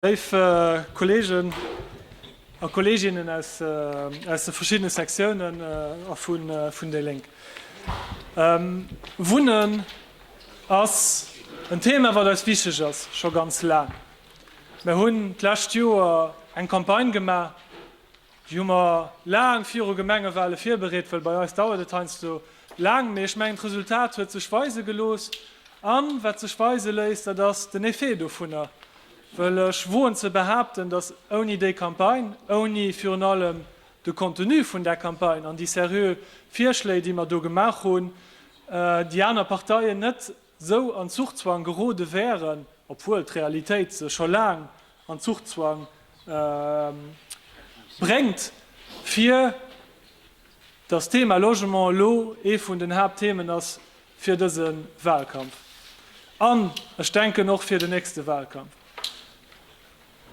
Léif Kolleegen a Kolleeginnen aus de verschiddene Sektiounen a vun déi Lénk, Wunnen ass en Thema, wat eis wichteg ass, scho ganz laang. Mir hunn d'lescht Joer eng Campagne gemaach, Déi hu mer laang viru Gemengewale virbereet, well bei eis dauert et heiansdo laang. Mee ech mengen, d'Resultat huet sech weise gelooss. A wat sech weise léisst, dat ass den Effet dovunner. Well ech woen ze behaapten, datt ouni déi Campagne, ouni virun allem de Contenu vun där Campagne an déi seriö Virschléi, déi mer do gemaach hunn, déi aner Parteien net sou an Zuchzwang gerode wären, obwuel d'Realitéit se scho laang an Zuchzwang bréngt, fir datt d'Thema Logement elo ee vun den Haaptthemen ass fir dëse Wahlkampf an, ech denken, och fir den nächste Wahlkampf.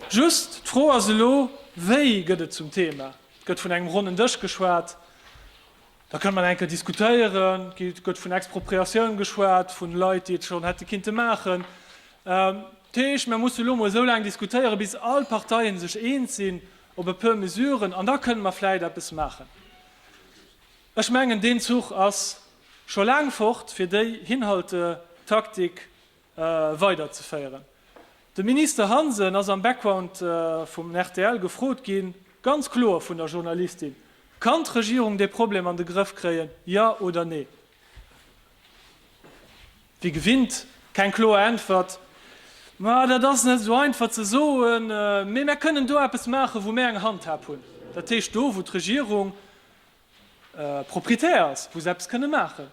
Just d'Fro ass elo, Wéi gëtt et zum Thema? Et gëtt vun engem ronnen Dësch geschwat. Da kënne mer nach eng Kéier diskutéieren. Et gëtt vun Expropriatioun geschwat, vu Leit, déi et schonn hätte kinnte maachen. Dat heescht, mir musse elo emol esou laang diskutéieren, bis all Parteien sech eens sinn op e puer Mesuren, an da kënne mer vläicht eppes maachen. Ech mengen, deen Zuch ass scho laang fort, fir déi Hinhaltetaktik weiderzeféieren. De Minister Hansen ass am Background vum rtl gefrot ginn, ganz kloer vun der Journalistin, Kann d'Regierung dee Problem an de Grëff kréien, ja oder nee? Wéi gewinnt, keng kloer Äntwert, Ma dat ass net esou einfach ze soen, mee mär kënnen do eppes maachen, wou mär eng Handhab hunn. Dat heescht, do wou d'Regierung Propriétaire ass, wou se eppes kënne maachen.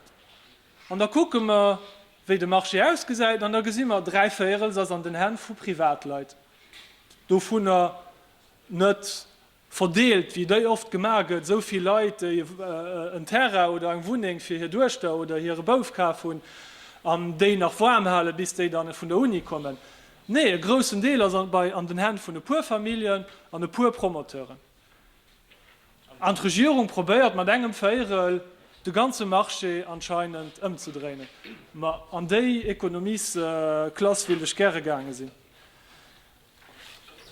An da kucke mer, wéi de Marché ausgesäit, an da gesi mer, dräi Véierels ass an den Hänn vu Privatleit, dovunner net verdeelt, wéi déi oft gemaach gëtt, esou vill Leit, déi en Terrain oder eng Wunneng fir hir Duechter oder hire Bouf kaf hunn an déi nach waarm halen, bis déi dann vun der Uni kommen. Nee, e groussen Deel ass an den Hänn vun e puer Familljen an e puer Promoteuren. An d'Regierung probéiert mat engem Véirel de ganze Marché anscheinend ëmzedréinen. Ma an déi Ekonomiesklass wéilt ech gäre gaange sinn.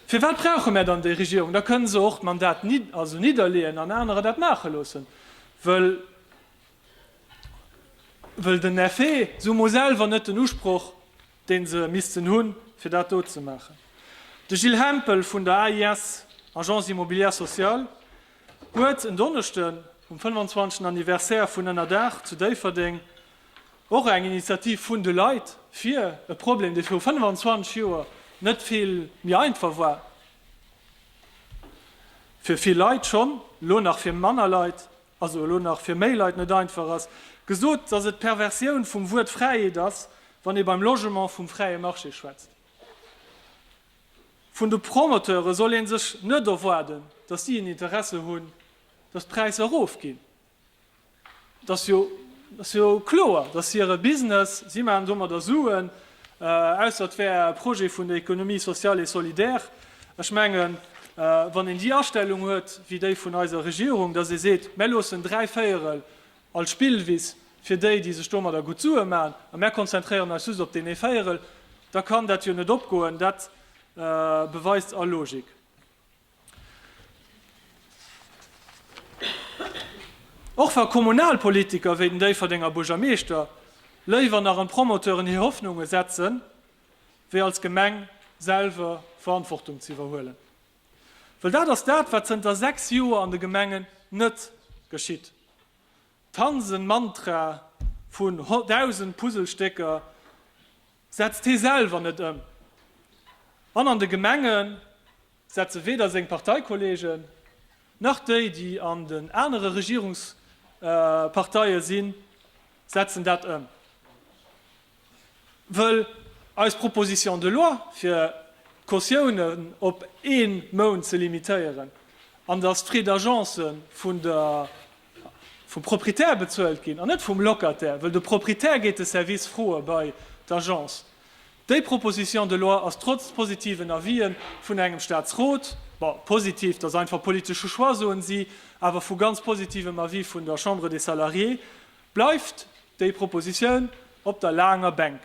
Firwat brauche mär dann déi Regierung? Da kënne se och d'Mandat also nidderleeën an anerer dat maache loossen. Wëll den Effet, se hu mol selwer net den Usproch, deen se missten hunn, fir dat do ze maachen. De Gilles Hempel vun der AIS, Agence Immobilière Sociale, huet en Donneschden, um 25. Anniversaire vun Ënnerdaach zu Déifferdeng, och eng Initiativ vun de Leit fir e Problem, dee viru 25 Joer net vill méi einfach war, fir vill Leit schonn, elo nach fir manner Leit, also elo nach fir méi Leit net einfach ass, gesot, dass et d'Perversioun vum Wuert Fräiheet ass, wann ee beim Logement vum fräie Marché schwätzt. Vun de Promoteure soll ee sech net erwaarden, dass si en Interesse hunn, dass d'Präisser erofginn. Et ass jo kloer, dass hire Business, si maachen domadder Suen, Ausser et wär e Projet vun der Économie sociale et solidaire. Ech mengen, wann een déi Astellung huet wéi déi vun eiser Regierung, dass ee seet, Mär loossen dräi Véierel als Spillwiss fir déi, déi sech domadder gutt Sue maachen, a mär konzentréieren eis just op deen ee Véierel, da kann dat jo net opgoen. Dat beweist all Logik. Och wa Kommunalpolitiker wéi den Déifferdenger Buergermeeschter léiwer nach an Promoteuren hir Hoffnunge setzen, wéi als Gemeng selwer Verantwortung ze iwwerhuelen. Well dat ass dat, wat zënter 6 Joer an de Gemengen net geschitt. D'Hansen-Mantra vun 1.000 Puzzlestécker, setzt hee selwer net ëm an an de Gemenge setze weder seng Parteikollegen, nach déi, déi an den anere Regierungsparteie sinn, setzen dat ëm. Wëll eis Proposition de loi, fir d'Cautiounen op ee Mount ze limitéieren an datt d'Frais d'agence vun der vum Proprietär bezuelt ginn an net vum Locataire, wëll de Proprietär gétt de Service froe bei d'Agence. Déi Proposition de loi ass trotz positiven Avis'e vun engem Staatsrot, bon, positiv, dat ass einfach politesche Choix, soen si, awer vu ganz positivem Avis vun der Chambre des Salariés, bleift déi Proposition op der laanger Bänk.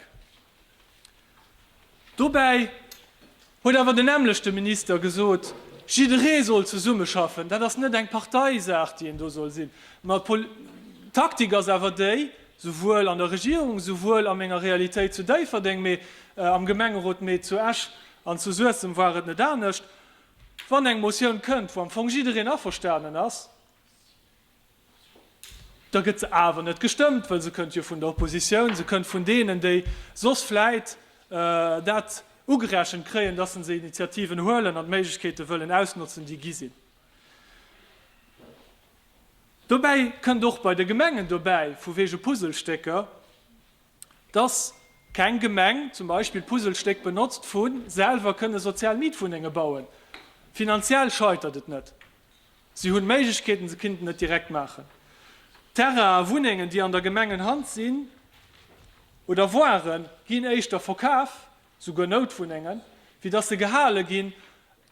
Dobäi huet awer den nämmlechte Minister gesot, jidderee soll zesummeschaffen. Dat ass net eng Parteisaach, déi een do soll sinn. Mä d'Taktik ass awer déi, souwuel an der Regierung, souwuel a menger Realitéit zu Déifferdeng, mee am Gemengerot, mee zu Esch an zu Suessem war et net anescht, wann eng Motioun kënnt, wou am Fong jiddereen averstanen ass, Da gëtt se awer net gestëmmt, well se kënnt jo vun der Oppositioun, se kënnt vun deenen, déi soss vläit dat ugerechent kréien, dass se Initiativen huelen an d'Méiglechkeete wëllen ausnotzen, déi gi sinn. Dobäi kënnt och bei de Gemengen dobäi, vu wege Puzzlestécker, dass keng Gemeng zum Beispill d'Puzzlestéck benotzt vu selwer kënne sozial Mietwunnenge bauen. Finanziell scheitert et net. Si hunn d'Méiglechkeeten, se kinnten et direkt maachen. Terrainen a Wunnengen, déi an der Gemengenhand sinn oder waren, ginn éischter verkaf, souguer Noutwunnengen, wéi dass se gehale ginn.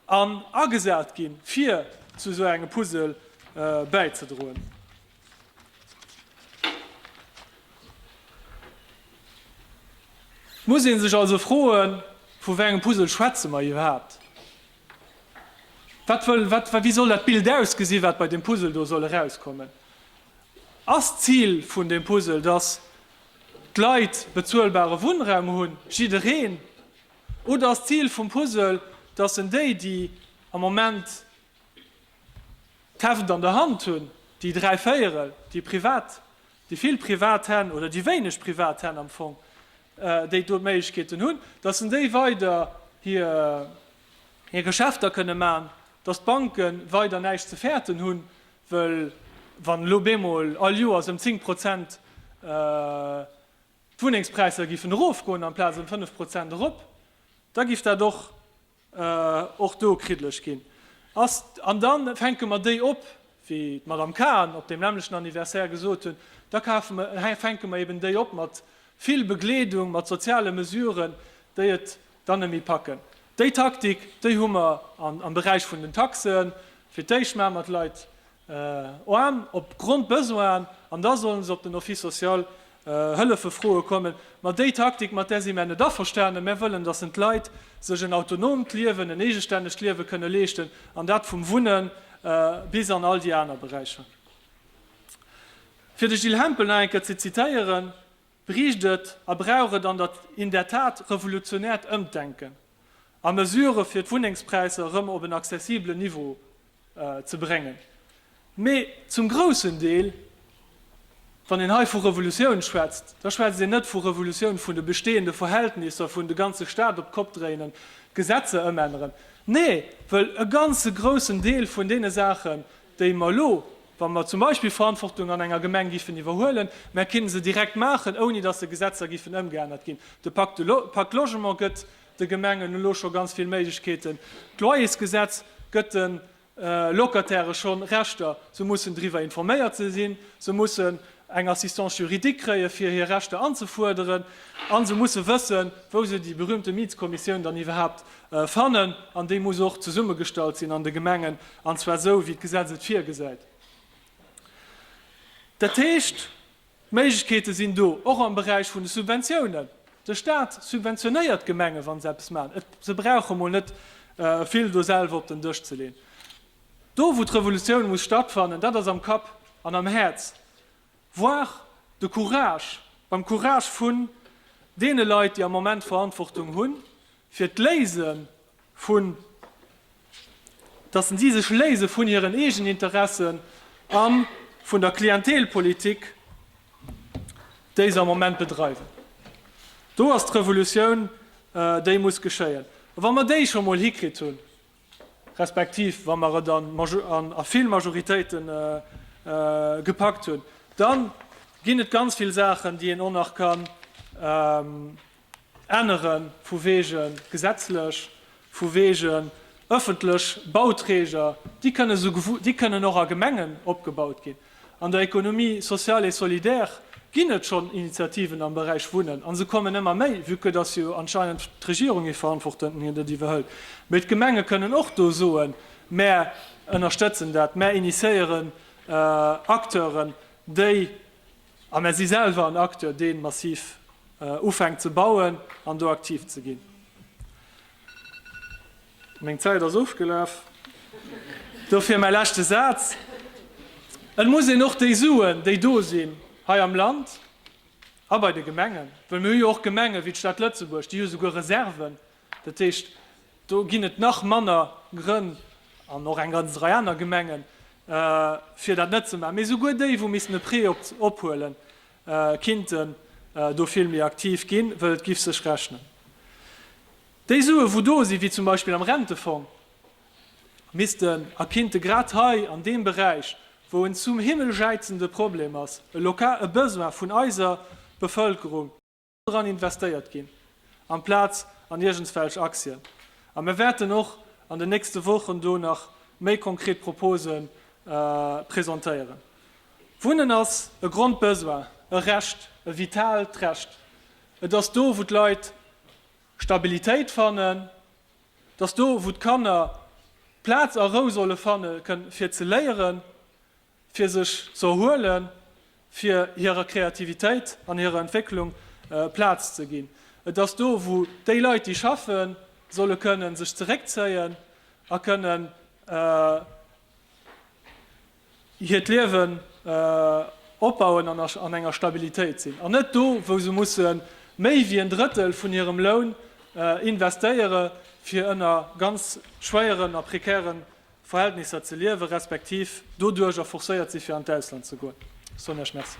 An agesat ginn, fir zu esou engem Puzzle bäizedroen. Et muss ee sech also froen, Vu wéi engem Puzzle schwätze mer iwwerhaapt? Wat wëll, wat, wéi soll dat Bild ausgesinn, wat bei deem Puzzle do soll erauskommen? Ass d'Zil vun deem Puzzle, dass d'Leit bezuelbare Wunnraum hunn, jiddereen? Oder ass d'Zil vum Puzzle, dass en déi, déi am Moment d'Heft an der Hand hunn, déi dräi Véierel, déi privat, déi vill privat Hänn oder déi wéineg privat Hänn am Fong, déi do d'Méiglechkeeten hunn, dass en déi weider hir Geschäfter kënne maachen, dass d'Banke weider näischt ze fäerten hunn, well wann elo bemol all Joers ëm zéng Prozent, d'Wunnengspräisser giffen erofgoen amplaz ëm fënnef Prozent erop, da giff dat och och do kriddlech ginn. Ass, an da fänke mer déi op, wéi d'Madame Cahen op deem nämmlechen Anniversaire gesot hunn, da kafe mer, fänke mer eben déi op mat vill Begleedung, mat soziale Mesuren, déi et dann net méi packen. Déi Taktik, déi hu mer am Beräich vun den Taxen. Fir d'éischt maache mer d'Leit Oan op Grondbesoinen, an da sollen se op den Office social Hëllefe froe kommen. Ma déi Taktik, mat där si mär net averstane. Mär wëllen, datt en d'Leit sech en autonomt Liewen, en eegestännegt Liewe kënne leeschten, an dat vum Wunne bis an all déi aner Beräicher. Fir de Gilles Hempel nach eng Kéier ze zitéieren, bréicht et a brauch et an der in der Tat revolutionäert Ëmdenken a Mesurë fir d'Wunnengspräisser erëm op en accessiblen Niveau ze bréngen. Mee zum groussen Deel, wann een hei vu Revolutioun schwätzt, da schwätzt een net vu Revolutioun vun de bestehende Verhältnisser, vun de ganze Staat op d'Kopp dréinen, d'Gesetzer ëmänneren. Nee, wëll e ganze groussen Deel vun deene Saachen, déi mer elo, wa mer zum Beispill Verantwortung an enger Gemeng giffen iwwerhuelen, mä kinne se direkt maachen, ouni dass de Gesetzer giffen ëmgeännert ginn. De Pacte Logement gëtt de Gemengen elo scho ganz vill Méiglechkeeten. D'Loyersgesetz gëtt de Locatairë scho Rechter. Se mussen driwwer informéiert ze sinn, se mussen eng Assistance juridique kréien, fir hir Rechter anzefuerderen, a se musse wëssen, wou se déi berühmte Mietskommissioun dann iwwerhaapt Fannen, an déi muss och zesummegestallt sinn an de Gemengen, an zwar esou, wéi d'Gesetz et virgesäit. Dat heescht, d'Méiglechkeete sinn do, och am Beräich vun de Subventiounen. De Stat subventionéiert d'Gemenge wa se eppes maachen. Et, se brauche mol net vill do selwer op den Dësch ze leen. Do, wou d'Revolutioun muss stattfannen, dat ass am Kapp an am Häerz. Voir de Courage beim Courage vun deene Leit, déi am Moment Verantwortung hunn, fir d'Léise vun, dass si sech léise vun hiren Eegeninteressen a vun der Klientelpolitik, déi se am Moment bedreiwen. Do ass d'Revolutioun, déi muss geschéien. A wa mer déi scho mol hikritt hunn, respektiv wa mer et a vill Majoritéite gepackt hunn, da ginn et ganz vill Saachen, déi een och nach kann ännere vu wege gesetzlech, vu wegen ëffentlech Bauträger, déi kënnen och a Gemengen opgebaut ginn. An der Économie sociale et solidaire ginn et schonn Initiativen am Beräich Wunnen, a se kommen ëmmer méi, vue que dass jo anscheinend d'Regierung ee Verantwortenden hien dat iwwerhëlt. Mee d'Gemenge kënnen och do soen, Mär ënnerstëtzen dat, mär initiéieren Acteuren, déi, a mär si selwer en Acteur, dee massiv ufänkt ze bauen an do aktiv ze ginn. Meng Zäit ass ofgelaf, dofir mäi leschte Saz, Et muss een och déi Suen, déi do sinn hei am Land a bei de Gemengen, well mir hu jo och Gemenge wéi d'Stad Lëtzebuerg, déi hu souguer Reserven, dat heescht, do ginn et nach manner Grënn, an och eng ganz Rei aner Gemengen, fir dat net ze maachen, mee souguer déi, wou missten e Prêt ophuelen, kinnten do vill méi aktiv ginn, well et giff sech rechnen. Déi Sue wou do si wéi zum Beispill am Rentefong missten a kinnte grad hei an deem Beräich, wou en zum Himmel jäizende Problem ass, e lokal e Besoin vun eiser Bevëlkerung, dran investéiert ginn amplaz an iergendswelch Aktien. A mir wäerten och an den nächste Wochen do nach méi konkret Propose presentéieren. Wunnen ass e Grondbesoin, e Recht, e vitaalt Recht. Et ass do wou d'Leit Stabilitéit fannen, dass do wou d'Kanner Plaz a Rou solle fanne kënnen fir ze léieren, fir sech ze erhuelen, fir hirer Kreativitéit an hirer Entwécklung Plaz ze ginn. Et ass do wou déi Leit déi schaffen, solle kënnen sech zeréckzéien a kënnen. hiert Liewen opbauen an an enger Stabilitéit sinn, an net do, wou se musse méi wéi en Drëttel vun hirem Loun investéiere fir ënner ganz schwéieren a prekäre Verhältnisser ze liewen, respektiv doduercher forcéiert si fir an d'Ausland ze goen. Ech soen Iech Merci.